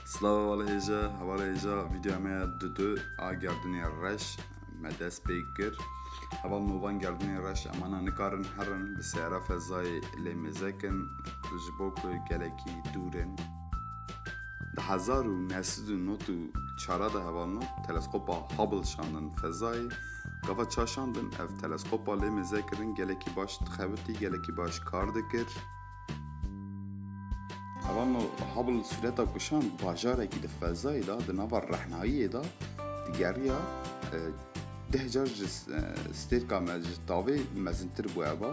Slava wal hêja, heval hêja videoya me ya dudu a gerdunê reş me dest pê kir. Heval novan gerdunê reş emana nikarin herin bi sehra fezayê lê mezekin ji bo ku gelekî dûrin. Di hezar û neh sed û nod û çara de heval not teleskopa Hubble şandin fezayê. Gava ça şandin ev teleskopa lê mezekirin gelekî baş dixebitî gelekî baş kar dikir. Hevano Hubble sureta kuşan di bajarekî di fezayê de di nava rehnayiyê de digeriya deh car ji stêrka me ji tavê mezintir bû heva.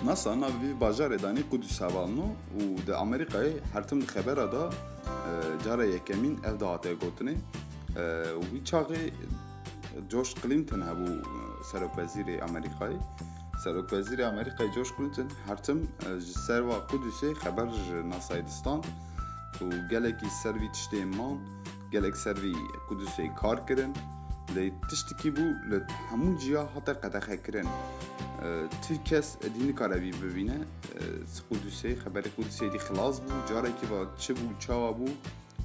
NASA navê vê bajarê danî Qudus hevano û di Amerîkayê her tim di xebera de cara yekemîn ev dihate gotinê û wî çaxê George Clinton hebû Serokwezîrê Amerîkayê. Serokwezîrê Amerîkayê George Clinton her tim ji serva Kudüsê xeber ji NASAyê distan û gelekî ser vî tiştê man, gelek ser vî Kudüsê kar kirin. Lê tiştekî bû li hemû ciya hate qedexekirin. Ti kes edî nikare vî bibîne. Kudüsê, xeberê Kudüsê dî xilas bû. Carekî va çi bû, çawa bû,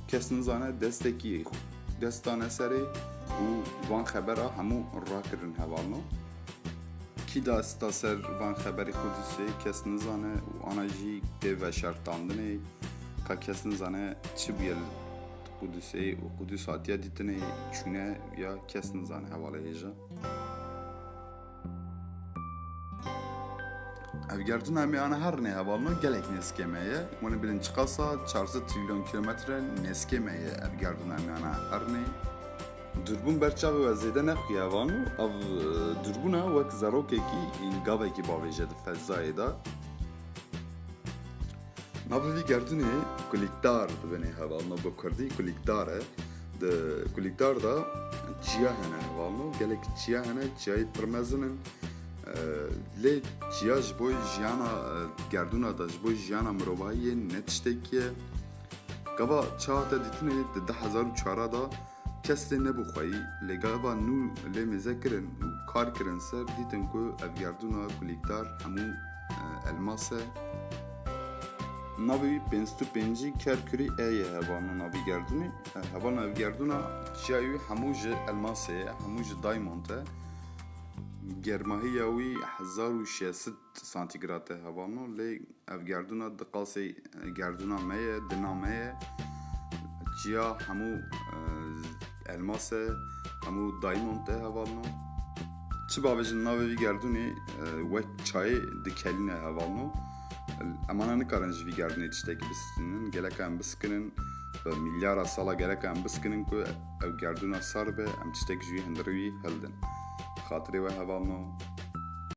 Kes nizane destekî dest dane serê û van xebera hemû rakirin hevalno. Kî dasta ser van xeberî Qudusê kes nizane û ana jî tê veşartandinê ka kes nizane çi bûye li Qudusê û Qudus hatiye dîtinê çûne ya kes nizane hevalê hêja. Evgertina me ana her ne hevalno gelek nêzikê me ye. Wene bilin çiqasa 400 trilyon kilometre nêzikê me ye evgertina me ana her ne. Durbun berçavê we zêde nexuye hevalno ev durbuna wek zerokekî gavekî bavêje di fezayê de. Ma bi vî gerdûnê kulîkdar dibêne heval me bi kurdî kulîkdar e. Di kulîkdar da çiya hene heval me gelek çiya hene çiyayê pir mezin in. Lê çiya ji bo jiyana gerdûna da ji bo jiyana mirovahiyê ne tiştekî ye. Gava çiya hate dîtinê di 2004 da Kes lê nebû xweyî, lê gava nû lê mêze kirin û kar kirin ser, dîtin ku ev gerdûna kulîkdar hemû elmas e. Navê wî Pênstu Pêncî Kerkûrî E ye hevano navî gerdûnê. Hevano ev gerdûna çiyayê wî hemû ji elmasê ye, hemû ji daymond e. Germahiya wî hezar û şesit Santîgrad de heva no lê ev gerdûna di qasê gerdûna me ye, dina me ye. Çiya hemû elmas e, hemû daymond e heval no. Çi bavêjin navê vî gerdûnê wek çayê di kelîne heval no. Emana nikarin ji vî gerdûnê tiştekî bisikinin. Geleka em bisikinin bi mîlyara sala geleka em bisikinin ku ew gerdûna sar be em tiştek ji wî hindirê wî hildin. Xatirê we heval no.